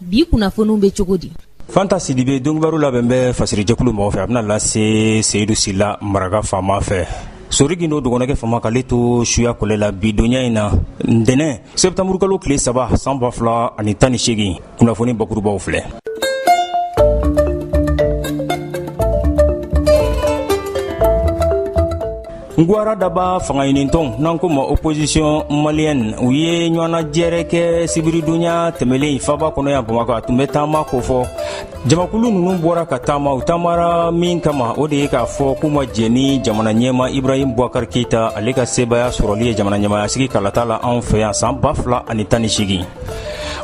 bi kunnafoniw bɛ cogo di fanta sidibe donkibaru labɛn bɛ fasirijɛkulu mɔgɔ fɛ a bɛna lase seyidu sila maraka faama fɛ soriki n'o dɔgɔninkɛ fama k'ale to suya kɔlɛ la bi donya in na ntɛnɛn sɛtanburukalo tile saba san ba fila ani tan ni seegin kunnafoni bakurubaw filɛ n gwara daba fangaɲinintɔn n'an k'o ma opozisiyɔn maliyɛn u ye ɲɔgɔnnajɛrɛ kɛ sibiridonya tɛmɛlen faba kɔnɔ yan bamakɔ a tun bɛ taama kofɔ jamakulu ninnu bɔra ka taama u taamara min kama o de ye k'a fɔ k'u ma jɛ ni jamana ɲɛmaa ibrahim buwakar keyita ale ka sebaaya sɔrɔli ye jamana ɲɛmayasigi kalata la anw fɛ yan san ba fila ani tan ni seegin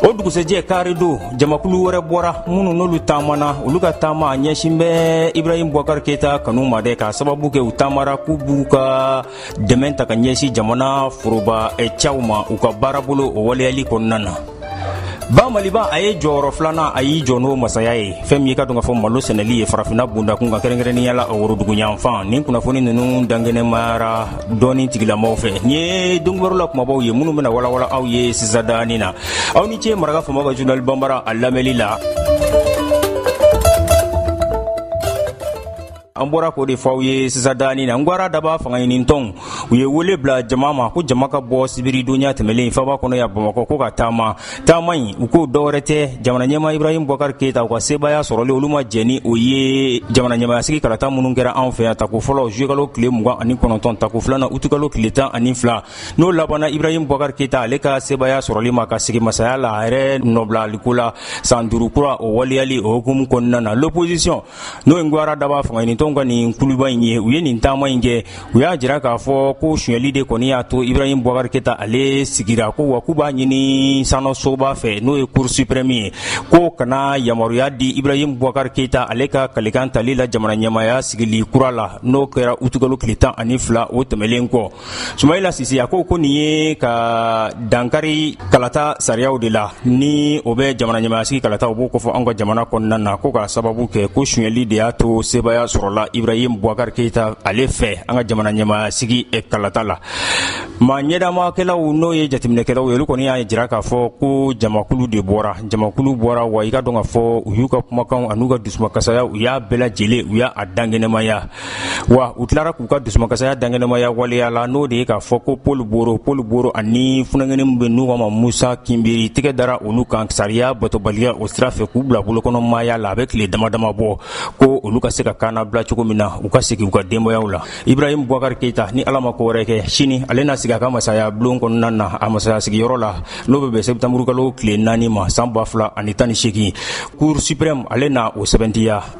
o dugusɛjɛ kari don jamakulu wɛrɛ bɔra minnu n'olu taamana olu ka taama a ɲɛsin bɛ ibrahim buwakar keyita kanu ma dɛ k'a sababu kɛ u taamara k'u b'u ka dɛmɛ ta ka ɲɛsin jamana foroba eh, cɛw ma u ka baarabolo o waleyali kɔnɔna na ba maliba a ye jɔyɔrɔ filanan a y'i jɔ n'o masaya ye fɛn min ye k'a dɔn k'a fɔ malo sɛnɛli ye farafina bundakun ka kɛrɛnkɛrɛnnenya la woroduguyanfan nin kunnafoni ninnu dankɛnɛmayara dɔɔni tigilamaaw fɛ nin ye donkibaru la kumabaw ye minnu bɛna walawala aw ye sisadaani na aw ni ce maraka faama ka journal banbara a lamɛnli la an bɔra k'o de fɔ aw ye sisadaani na ngwara daba fangaɲinintɔnw u ye wele bila jama ma ko jama ka bɔ sibiridonya tɛmɛlen faba kɔnɔ yan bamakɔ ko ka taama taama in u ko dɔwɛrɛ tɛ jamana ɲɛmaa ibrahim buwakar keyita u ka sebaaya sɔrɔli olu ma jɛ ni o ye jamana ɲɛmayasigi kalata minnu kɛra anw fɛ yan tako fɔlɔ zuyekalo tile mugan ani kɔnɔntɔn tako filanan utukalo tile tan ani fila n'o labanna ibrahim buwakar keyita ale ka sebaaya sɔrɔli ma ka sigi masaya la a yɛrɛ nɔbilaliko la san duuru kura o waleyali o hukumu kɔnɔna na l'opposition n'o ye gwara daba fangaɲinintɔn ka nin kuluba in ye u ye nin taama in kɛ u y'a jira k'a fɔ ko sonyali de kɔni y'a to ibrahim buwakar keyita ale sigira ko wa k'u b'a ɲini sariyasoba fɛ n'o ye cour suprême ye k'o kana yamaruya di ibrahim buwakar keyita ale ka kalikan tali la jamana ɲɛmaaya sigili kura la n'o kɛra utukalo tile tan ani fila o tɛmɛnlen kɔ sumayila sise a ko ko nin ye ka dankari kalata sariyaw de la ni o bɛ jamana ɲɛmayasigi kalata o b'o kofɔ an ka jamana kɔnɔna na ko ka sababu kɛ ko sonyɛli de y'a to sebaaya sɔrɔla ibrahim buwakari keyita ale fɛ an ka jamana ɲɛmayasigi eh, kalata la ma ɲɛdamakɛlaw n'o ye jateminɛkɛlaw ye olu kɔni y'a jira k'a fɔ ko jamakulu de bɔra jamakulu bɔra wa i k'a dɔn k'a fɔ u y'u ka kumakanw an'u ka dusumakasaya u y'a bɛɛ lajɛlen u y'a dangɛnɛmaya wa u tilara k'u ka dusumakasaya dankɛnɛmaya waleya la n'o de ye k'a fɔ ko paul boro paul boro ani funankɛni min bɛ n'u k'a ma musa kinbiri tɛgɛ dara olu kan sariya batobaliya o sira fɛ k'u bila bolokɔnɔmaya la a bɛ tile dama dama bɔ ko olu ka se ka kannabila cogo min na u ka segin u ka denbayaw la ibrahim bubakari keyita ni ala ma ko wɛrɛ kɛ sini ale na sigi a ka masaya bulon kɔnɔna na a masaya sigiyɔrɔ la n'o bɛ bɛn sɛtanburukalo tile naani ma san ba fila ani tan ni seegin cour supreme ale na o sɛbɛntiya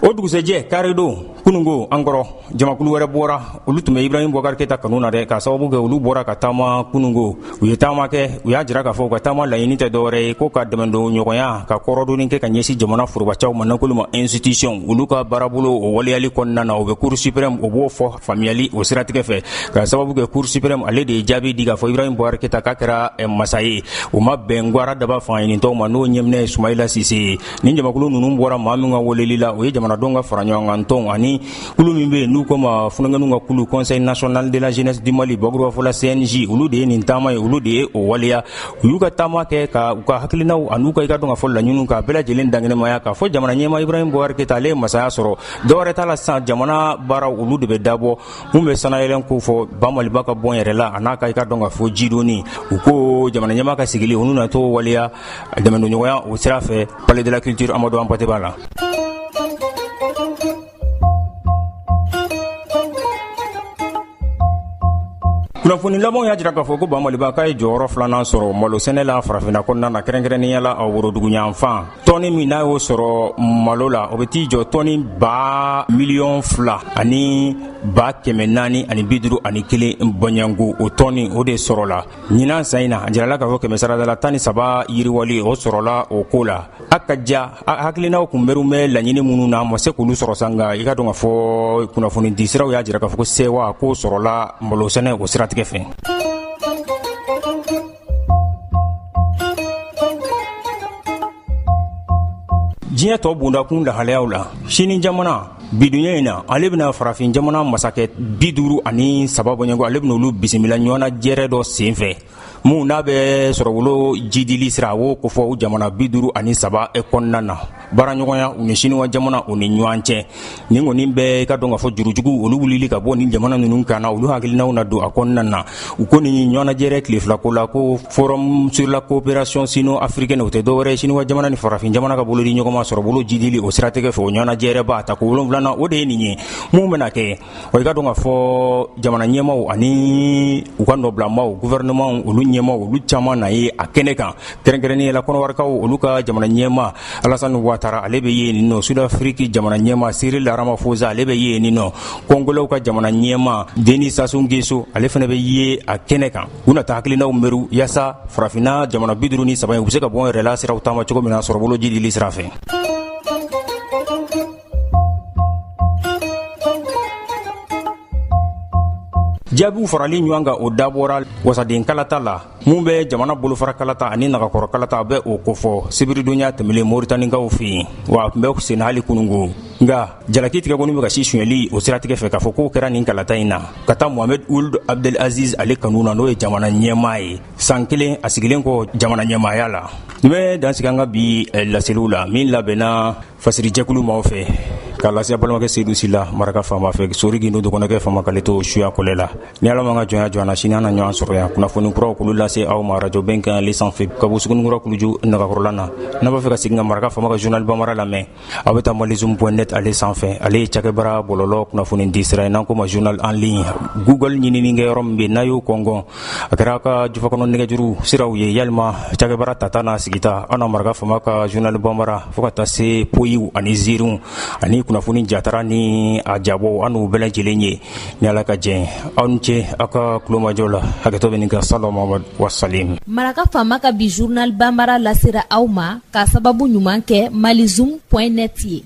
o dugusɛjɛ karidon kunungo an kɔrɔ jamakulu wɛrɛ bɔra olu tun bɛ ibrahim bubakari keyita kanu na dɛ k'a sababu kɛ olu bɔra ka taama kunungo u ye taama kɛ u y'a jira k'a fɔ u ka taama laɲini tɛ dɔwɛrɛ ye ko ka dɛmɛdon ɲɔgɔnya ka kɔrɔdonni kɛ ka ɲɛsin jamana forobacaw ma n'an k'olu ma institution olu ka baarabolo o waleyali kɔnɔna na o bɛ cour supreme o b'o fɔ faamuyali o siratigɛ fɛ k'a sababu kɛ cour supreme ale de ye jaabi di k'a fɔ ibrahim bubakari keyita k'a kɛra eh, masa ye o ma bɛn gwara daba fanga ɲinitɔnw ma n'o ɲɛminɛ ye sumayila sise ye nin jamakulu ninnu bɔra maa min ka weleli la o ye jamanadenw ka fara ɲɔgɔn kan tɔnw ani kulu min bɛ yen n'u k'o ma funakɛninw ka kulu conseil national de la jeunesse du mali bakurubafɔla cnj olu de ye nin taama ye olu de ye o waleya u y'u ka taama kɛ ka u ka hakilinaw an'u ka i k'a dɔn k'a fɔ laɲiniw k'a bɛɛ lajɛlen dankɛnɛmaya k'a fɔ jamana ɲɛmaa ibrahim bubakari keyita ale ye masaya sɔrɔ dɔwɛrɛ t'a la sisan jamana baaraw olu de bɛ dabɔ min bɛ sanayɛlɛn ko fɔ bamaliba ka bɔn yɛrɛ la a n'a ka i k'a dɔn k'a fɔ jidoni u ko jamana ɲɛmaa ka sigili olu na to waleya dɛmɛdonɲɔgɔnya o sira fɛ palais de la culture amadu hampate ba la kunnafoni labanw y'a jira k'a fɔ ko bamaliba k'a ye jɔyɔrɔ filanan sɔrɔ malo sɛnɛ la farafinna kɔnɔna na kɛrɛnkɛrɛnnenya la a woroduguyanfan tɔni min n'a y'o sɔrɔ malo la o bɛ t'i jɔ tɔni ba miliyɔn fila ani ba kɛmɛ naani ani bi duuru ani kelen bɔɲɔgɔnko o tɔni o de sɔrɔla ɲinan san in na a jirala k'a fɔ kɛmɛsarada la tan ni saba yiriwali o sɔrɔla o ko la a ka ja hakilinaw kunbɛriw bɛ laɲini minnu na a ma se k'olu sɔrɔ sa nka i k'a dɔn k'a fɔ kunnafoni di siraw y'a jira k'a fɔ ko sewa ko sɔrɔla malosɛnɛ o siratigɛ fɛ diɲɛ tɔ bondakun lahalayaw la sini jamana bi dugujɛ in na ale bɛna farafin jamana masakɛ bi duuru ani saba bɔɲɔgɔnko ale bɛna olu bisimila ɲɔgɔnnajɛrɛ dɔ sen fɛ min n'a bɛ sɔrɔbolo jiidili sira o kofɔ jamana bi duuru ani saba kɔnɔna na baaraɲɔgɔnya u ni siniwa jamana u ni ɲɔgɔn cɛ nin kɔni bɛ i k'a dɔn k'a fɔ jurujugu olu wulili ka bɔ nin jamana ninnu kan na olu hakilinaw na don a kɔnɔna na u ko nin ɲɔgɔnajɛrɛ tile filako la ko forum sur la coopération sino africaine o tɛ dɔwɛrɛ ye siniwa jamana ni farafin jamana ka bolodi ɲɔgɔnma sɔrɔbolo jiidili o siratigɛ fɛ o ɲɔgɔnajɛrɛba a tako wolonwulanan o de ye nin ye min bɛna kɛ wa i k'a dɔn k'a fɔ jamana ɲɛmaw ani u ka nɔbilamaw guvɛrɛnɛmaw olu ɲɛmaw olu caman na ye a kɛnɛ kan kɛrɛnkɛrɛnnenya la kɔnɔwarikaw olu ka jamana ɲɛmaa alasani watara ale bɛ ye nin nɔ sudafiriki jamana ɲɛmaa siril ramafosa ale bɛ ye nin nɔ kɔngolɛw ka jamana ɲɛmaa deni sasu ngeso ale fana bɛ ye a kɛnɛ kan u na taa hakilinaw mɛru yaasa farafinna jamana bi duuru ni saba ye u bɛ se ka bɔ yɛrɛ la siraw taama cogo min na sɔrɔbolo jiidili sira fɛ jaabiw farali ɲɔgɔn kan o dabɔra wasaden kalata la min bɛ jamana bolofara kalata ani nagakɔrɔ kalata bɛ o kofɔ sibiridonya tɛmɛlen moritanikaw fɛ yen wa a tun bɛ sen hali kununko nka jalaki tigɛ kɔni bɛ ka si sonyɛli o siratigɛ fɛ k'a fɔ k'o kɛra nin kalata in na ka taa mohamed uld abdel aziz ale kanu na n'o ye jamana ɲɛmaa ye san kelen a sigilen kɔ jamana ɲɛmaaya la n bɛ dansigi an ka bi eh, laseliw la min labɛnna fasirijɛkulu maaw fɛ k'a lase aw balimakɛ seyidu sila maraka faama fɛ sori gindo dɔgɔnɔkɛ faama k'ale to suya kɔlɛ la ni ala m'an ka jɔnya jɔ na sini an na ɲɔgɔn sɔrɔ yan kunnafoni kuraw k'olu lase aw ma rajo bɛnkan ale sanfɛ ka bɔ sugunikura kuluju nagakɔrɔla na n'aw b'a fɛ ka segin ka maraka faama ka journal bamara lamɛn aw bɛ taa malizum point net ale sanfɛ ale ye cakɛbara bɔlɔlɔ kunnafoni di sira ye n'an k'o ma journal en ligne google ɲinini kɛ yɔrɔ min bɛ n'aw y'o kɔngɔn a kɛra ka jufakɔnɔ nɛgɛjuru siraw ye walima cakɛbara tata n'a sigita aw na maraka faama ka journal banbara fo ka taa se poyiw ani ziiriw ani kunnafoni jatara ni a jabɔw aw n'u bɛɛ lajɛlen ye ni ala ka jɛn aw ni ce aw ka tulomajɔ la hakɛto bɛ nin kan sala mahamad wasalim maraka faama ka bi journal banbara lasera aw ma k'a sababu ɲuman kɛ malizoom point net ye